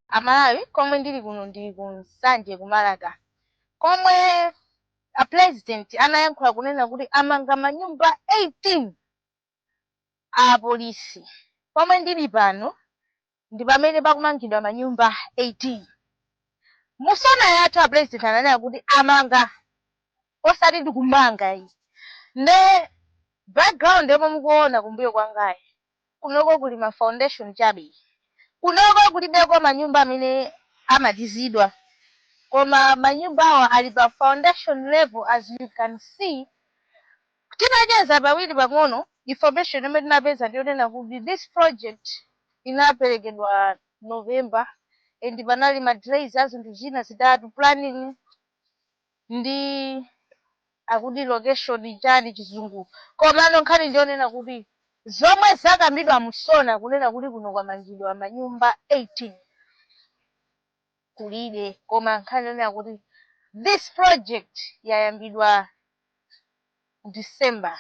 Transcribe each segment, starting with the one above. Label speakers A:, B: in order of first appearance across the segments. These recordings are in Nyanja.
A: a Malawi komwe ndili kuno ndi ku Nsanje ku Marka komwe a Pulezidenti anayankhula kunena kuti amanga manyumba 18 a apolisi. Komwe ndili pano ndi pamene pakumangidwa manyumba 18. Mu sona yathu a Pulezidenti ananena kuti amanga osati ndikumanga ayi. Nde background yomwe mukuona kumbuyo kwangayi Kunoko kuli ma foundation chabe. Kunoko kulibeko manyumba amene amalizidwa. Koma manyumbawa ali pa foundation level as you can see. Tinacheza pawiri pang'ono, information yomwe tinapeza ndi yonena kuti this project inaperekedwa November and panali ma delays a zinthu zina zitatu, planning, ndi akuti location chani chizungu komano nkhani ndiyonena kuti zomwe zakambidwa mu sona kunena kuti kuno kwamangidwa manyumba 18 kulibe koma nkhani yonena kuti this project yayambidwa December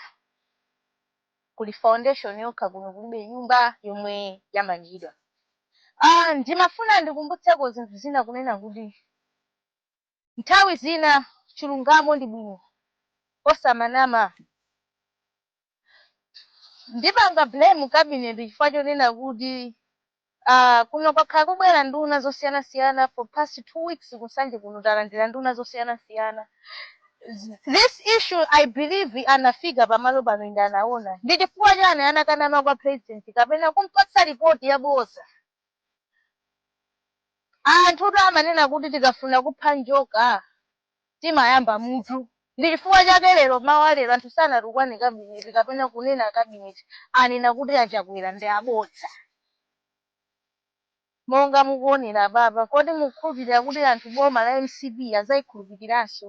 A: kuli foundation yokha kuno kulibe nyumba yomwe yamangidwa ah ndimafuna ndikumbutseko zinthu zina kunena kuti Nthawi zina chilungamo ndi bwino osamanama. Ndipanga blame cabinet chifukwa chonena kuti aah kuno kwakhala kubwera nduna zosiyana siyana for past 2 weeks ku Nsanje kuno talandira nduna zosiyana siyana. This issue I believe anafika pamalo pano and anaona. Ndichifukwa chani anakanama kwa president kapena kumpatsa report yabodza. Anthutu amanena kuti tikafuna kupha njoka timayamba mutu. Ndi chifukwa chake lero mmawa wa lero anthu sanatukwane kabineti kapena kunena kabineti, anena kuti a Chakwera ndi abodza. Monga mukuonera apapa, kodi mukukhulupirira kuti anthu boma la mcp adzaikhulupiriranso?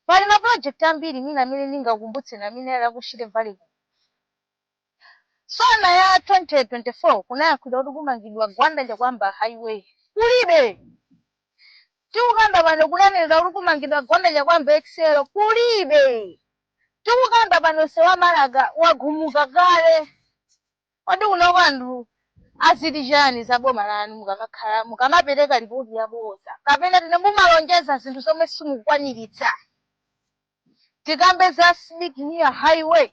A: Pali ma project ambiri mwina amene ndingakumbutseni amene ali aku Shire Valley kuno. Sona ya 2024 kunayankhulidwa kuti kumangidwa Gwanda Chakuamba Highway. Kulibe. Tikukamba pano kunanenedwa kuti kumangidwa Gwanda Chakuamba Excel. Kulibe. Tikukamba pano msewu wa Marka wagumuka kale. Kodi kunoko anthu aziti chani za boma lanu mukamakhala mukamapeleka lipoti yaboza kapena tine mumalonjeza zinthu zomwe simukukwanilitsa tikambe za Sidik Mia highway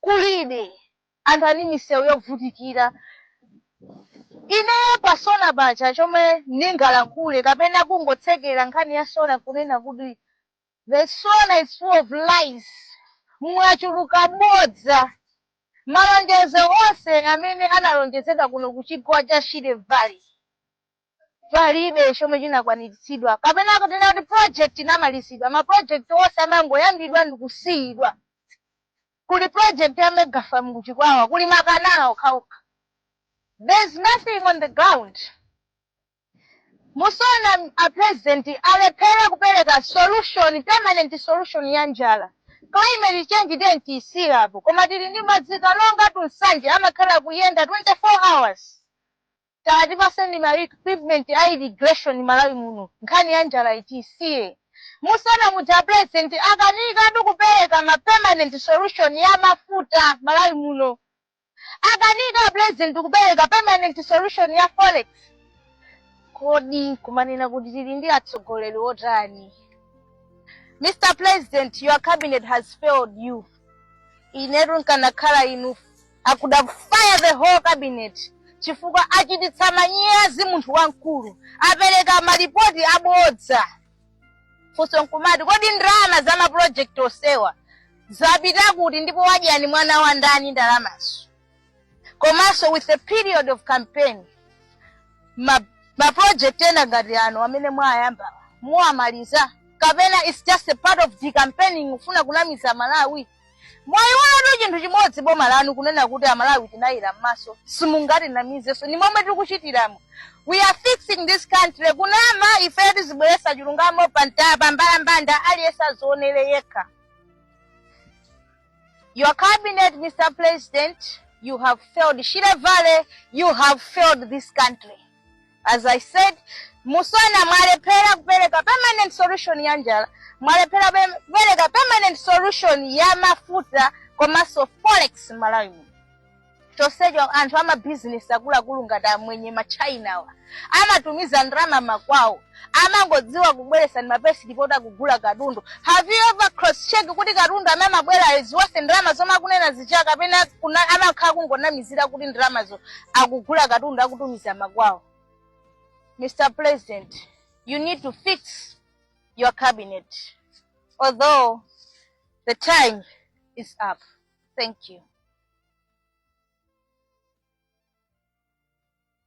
A: kulibe anthu ali m'misewu yovutikira ine pa sona paja chomwe ndingalankhule kapena kungotsekera nkhani ya sona kunena kuti The SONA is full of lies, Mwachuluka bodza. Malonjezo onse amene analonjezedwa kuno ku chigwa cha Shire Valley palibe chomwe chinakwaniritsidwa kapena kunena kuti project inamalizidwa. Ma project onse amangoyambidwa ndi kusiyidwa. Kuli project ya mega farm ku Chikwawa, kuli makanala okhaokha. There is nothing on the ground. Mu SONA a president alephera kupereka solution, permanent solution ya njala. Climate change tiyeni tiyisiye apo koma tili ndi madzi Karonga to Nsanje amakhala akuyenda 24 hours. Tatipaseni ma equipment a irrigation Malawi muno nkhani ya njalayi tiyisiye. Mu SONA muja a president akanikatu kupereka ma permanent solution ya mafuta Malawi muno. akanika a president kupereka permanent solution ya forex kodi kumanena kuti tili ndi atsogoleri otani mr president your cabinet has failed you inetu nkanakhala inu I could have fired the whole cabinet chifukwa achititsa manyazi munthu wamkulu apereka malipoti abodza funso nkumati kodi ndalama za ma project onsewa zapita kuti ndipo wadya ni mwana wa ndani ndalamazo komanso with a period of campaign ma, ma project ena ngati ano amene mwayamba muwamaliza kapena it's just a part of the campaigning kufuna kunamiza malawi mwayiwalatu chinthu chimodzi boma lanu kunena kuti amalawi tinayera m'maso simungatinamizenso ni momwe tikuchitiramo we are fixing this country kunama ifeyo tizibweretsa chilungamo pa mta- pa mbalambanda aliyense azionere yekha your cabinet mr president you have failed shire valley you have failed this country as i said mu SONA mwalephera kupereka permanent solution ya njala mwalephera pe- kupereka permanent solution ya mafuta komanso forex malawi muno chonsecho anthu amabizinesi akuluakulu ngati amwenye machinawa amatumiza ndalama makwawo amangodziwa kubweretsa ndi ma pay slip oti akugula katundu have you ever cross check kuti katundu amene amabwerayo is worth ndalama zomwe akunena zija kapena kuna- amakhala kungonamizira kuti ndalamazo akugula katundu akutumiza makwawo mr president you need to fix your cabinet although the time is up thank you